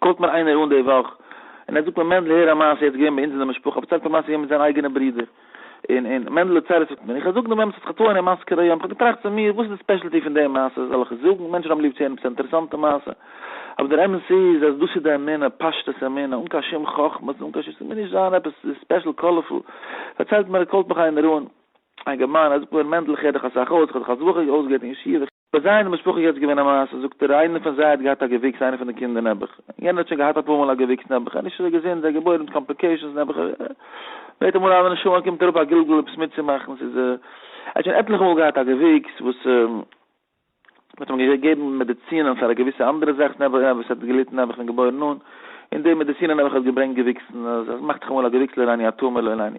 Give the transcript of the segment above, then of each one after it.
קאלט מיר איינער אן די וואך און ער זאגט מיר מענדל הער א מעשה יעצט געווען ביי אונז אין די משפחה ער פארציילט א מעשה געווען מיט זיינע אייגענע ברודער און און מענדל האט צרות מיט מיר איך זאג דעם אמת האט זיך געטוען אין מאסקערע יום איך האב געטראכט צו מיר וואס איז די ספעשעלטי פון די מעשה זאל איך עס זאגן מענטשן האבן ליב צו הערן עפעס א אינטערעסאנטע מעשה אבער דער אמת איז אז דאס איז די אמונה פשטות אמונה אן קיין שום חכמות אן קיין שום ס'מוז נישט זיין עפעס ספעשעל קאלערפול פארציילט מיר קאלט מיך איינער אן א געמיינער ער זאגט מיר מענדל איך הער דיך אסאך אויס איך האב דיך אלס בחור אויסגעהערט אין ישיבה ביי זיי אין די משפחה איז יעצט געווען א מעשה, זאגט ער, איינער פון זיי האט געהאט א געוויקס, איינער פון די קינדער נעבעך, יענער האט שוין געהאט אפאר מאל א געוויקס נעבעך, ער איז נישט אזוי געזונט, זיי געבוירן מיט קאמפליקעישאנס נעבעך, בעט אמאל אז די נשמה קומט אראפ א גלגול עפעס מיטצומאכן, ס'איז א, ער האט שוין עטליכע מאל געהאט א געוויקס וואס מ'האט אים געגעבן מעדיצינען פאר א געוויסע אנדערע זאך נעבעך, עפעס האט געליטן נעבעך פון געבוירן אן, און די מעדיצינען נעבעך האט געברענגט געוויקסן, אז עס מאכט זיך אמאל א געוויקס לא לעני הטעם ולא לעני.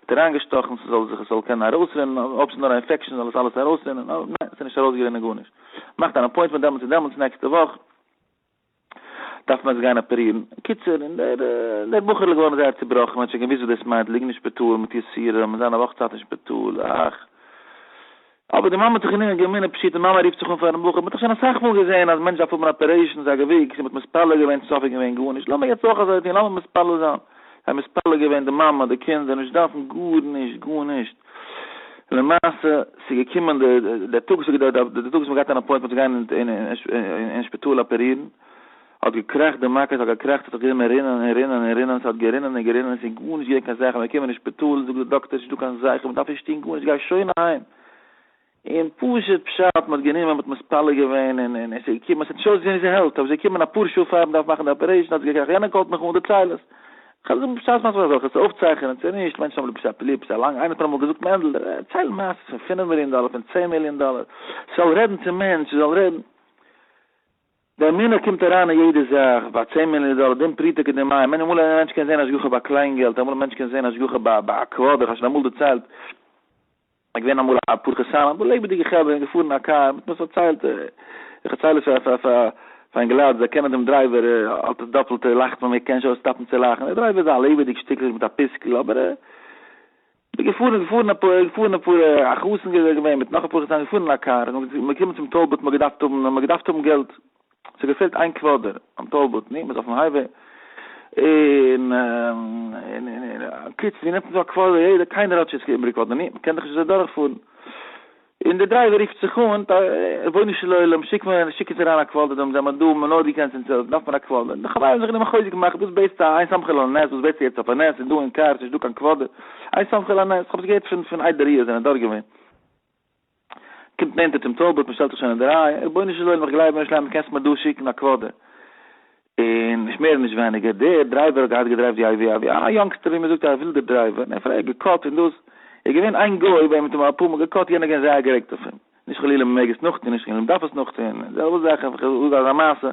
האט אריין געשטאכן ס'זאל זיך עס זאל קענען ארויסרינען אויב ס'איז נאר א אינפעקשאן זאל עס אלעס ארויסרינען אבער ניין ס'איז נישט ארויסגערינען גארנישט מאכט אן אפוינטמענט דעמאלטס און דעמאלטס נעקסטע וואך דארף מען עס גיין אפערירן קיצור און דער דער בחור'ל איז געווארן זייער צובראכן מען האט שוין געוואוסט וואס דאס מיינט ליגן אין שפיטאל מיט יסורים און זיין א וואך צייט אין שפיטאל אך. אבער די מאמע האט זיך גענומען געמינען פשוט די מאמע רופט זיך אן פארן בחור מען האט דאך שוין אסאך מאל געזען אז מענטש דארף האבן אפערעישאנס א געוויקס און מען האט מתפלל געווען צופי איז געווען גארנישט לאמיר יעצט אויך אזוי טון לאמיר מתפלל זיין זיי מתפלל געווען די מאמע די קינדער נישט דארפן גארנישט גארנישט למעשה ס'איז געקומען די די טאג די טאג וואס מען גייט אן אפוינטמענט צו גיין אין שפיטאל אפערירן. האט געקראכט די מכות האט געקראכט ס'האט זיך גענומען רינען און רינען און רינען ס'האט גערינען און גערינען ס'איז גארנישט געווען קיין זכר מ'קומען אין שפיטאל זאגט די דאקטער ס'נישט דא קיין זכר מ'דארף נישט טון גארנישט גיי שוין אהיים און פשוט פשט מ'האט גענומען מ'האט מתפלל געווען און און און ס'איז געקומען ס'האט נישט אויסגעזען ווי ס'העלפט אבער ס'איז געקומען אפאר שעה פאר מ'דארף מאכן די אפערעישן האט זיך געקראכט יענער קאלט מיך אן דערצייל עס כ'האב געזאגט מ'פשט מאכט מען אזעלכע צו אויפצייכענען צו נישט מענטשן האבן ליב פשט אפילו פשט לאנג איינער האט מיר אמאל געזאגט מענדל דערצייל מעשה'ס פון פינף מיליאן דאלער פון צען מיליאן דאלער זאל רעדן צום מענטש זאל רעדן. דער מנהל קומט אריין אין יעדע זאך, ביי צען מיליאן דאלער, דין פרוטה כדין מים, מיין אמאל א מענטש קען זען השגחה ביי קליין געלט, אמאל א מענטש קען זען השגחה ביי ביי א קוואדער, איך האב שוין אמאל דערציילט, איך געווען אמאל א פרחי סאן, א לעבעדיגע חבר און געפארן אין א קאר, מ'האט מיר עס פארציילט, איך דערצייל עס פאר פאר פאר אינגעלייט, זיי קענען דעם דרייווער, האט עס דאפעלטע, לאכט מען, מ'קען נישט אויסטאפן צו לאכן, דער דרייווער איז א לעבעדיג שטיקל מיט א פיסקל, אבער ער. די געפארן איז געפארן א פאר געפארן א פאר א חתן געווען איז געווען מיט נאך אפאר חתנים געפארן אין א קאר און מ'איז געקומען צום טאל בוט מ'האט געדארפט האבן מ'האט געדארפט האבן געלט ס'האט געפעלט איין קוואדער ביים טאל בוט ני מ'איז אויפן הייוועי און און און און קיצער ווי נעמט מען דא א קוואדער יעדער קיינער האט שוין ס'איז איבעריג געווארן ני מ'קען דאך נישט אזוי דורכפארן. און דער דרייווער רופט זיך אן, רבונו של עולם, שיק מיר, שיק אונז אריין א קוואדער דא, מיר זעמער דא, מיר האבן נאר דיר קענסט אונז העלפן, דארף מיר א קוואדער. די חברים האבן זיך גענומען חוזק מאכן, וואס בעטסטו א, איין סמך על הנס, וואס בעטסטו יעצט אויף א נס, ס'איז דא אין קאר, ס'נישט דא קיין קוואדער, איין סמך על הנס, כ'האב עס געהערט פון, פון איידער איר זענט דארט געווען. קומט נענטער צום טאלבאט, מ'שטעלט זיך שוין אין די רייע, רבונו של עולם, איך גלייב אין אויש לייב, קענסט מיר דא שיקן א קוואדער. און נישט מער און נישט ווייניגער, דער דרייווער האט געהאט געדרייווט ווי א ווי א יונגסטער ווי מ'זאגט א ווילדער דרייווער, און ער האט פארהער געקאט און דאס, איז געווען איין גוי וועם מ'האט אים אפאר מאל געקאט, יענער איז געווען זייער גערעגט אויף אים, נישט חלילה מ'מעג עס נאכטון, נישט חלילה מ'דארף עס נאכטון, און זעלבע זאך אויף איך זאג אזא מעשה,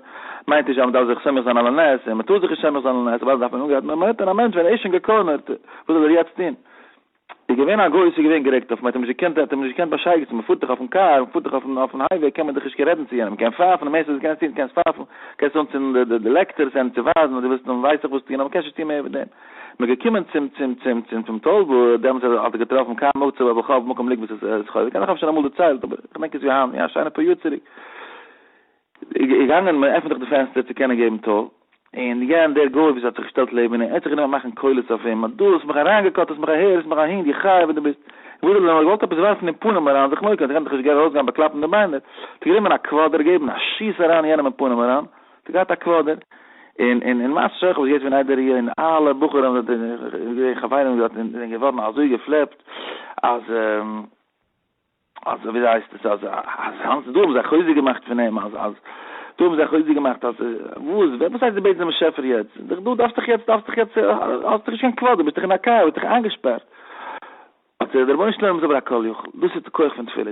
מיינט נישט אז מ'דארף זיך סומך זיין על הנס, און מ'טאר זיך נישט סומך זיין על הנס, אוודאי דארף מען אנגרייטן, אבער מ'האט אים א מענטש ווען ער איז שוין געקארנערט, וואס זאל ער יעצט טון? איז געווען א גוי וואס איז געווען גערעגט אויף אים, האט אים נישט געקענט, ער האט אים נישט געקענט באשייגעצן, מען פארט דאך אויפן קאר, מען פארט דאך אויפן אויפן הייוועי, קען מען דאך נישט קיין רעדן צו יענעם, מען קען פייפן, די מערסטע וואס קענסט טון, קענסט פייפן, קענסט אנצינדן די די די לעקטערס, יענעם צו ווייזן אז דו ווילסט אים ווייס איך וואס טון, אבער מען קען נישט טון מער ווי דעם. מען איז געקומען צום צום צום צום צום טאל וואו ער האט דעמאלטס האט ער געטראפן קיין מצב אויב איך האב מקום ליגבער ס'איז ס'חולי, כנראה כ'האב שוין אמאל דערציילט, אבער כ'דענק עס ווי היינט, יא שיינע פאר יאר צוריק, איז געגאנגען מען עפענט דאך די פענסטער צו קענען געבן טאל, און יענ דער גוי וואס האט זיך געשטעלט לעבן אים, ער האט זיך גענומען מאכן קולות אויף אים, אז דו האסט מיך אריינגעקאט, האסט מיך אהער, האסט מיך אהין, די חיה וואס דו ביסט. וואס האט ער געוואלט? געוואלט עפעס ווארפן אין פנים אריין, זיך מוקיון, ער קען דאך נישט גערן ארויסגיין באקלאפן די ביינער, האט ער גענומען א קוואדער געבן א שיס אריין יענעם אין פנים אריין, האט ער געהאט א קוואדער, און און און למעשה שכח וואס גייט פון איידער אי און אלע בחורים זענען דארט און געווען חברים דארט און זענען געווארן אזוי געפלעפט אז. אז וויאזוי הייסט עס אז אז האנט דא האבן זיי חוזק געמאכט פון אים אז אז דא האבן זיי חוזק געמאכט אז וואס ווער וואס הייסט די בעטסט דעם באשעפער יעצט דאך דא דארפסטעך יעצט דארפסטעך יעצט האסטעך נישט קיין כבוד דו ביסטעך אין א קאר ביסטעך איינגעשפארט האט זיי דער רבונו של עולם איז אבער א כל יכול דאס איז די כח פון תפילה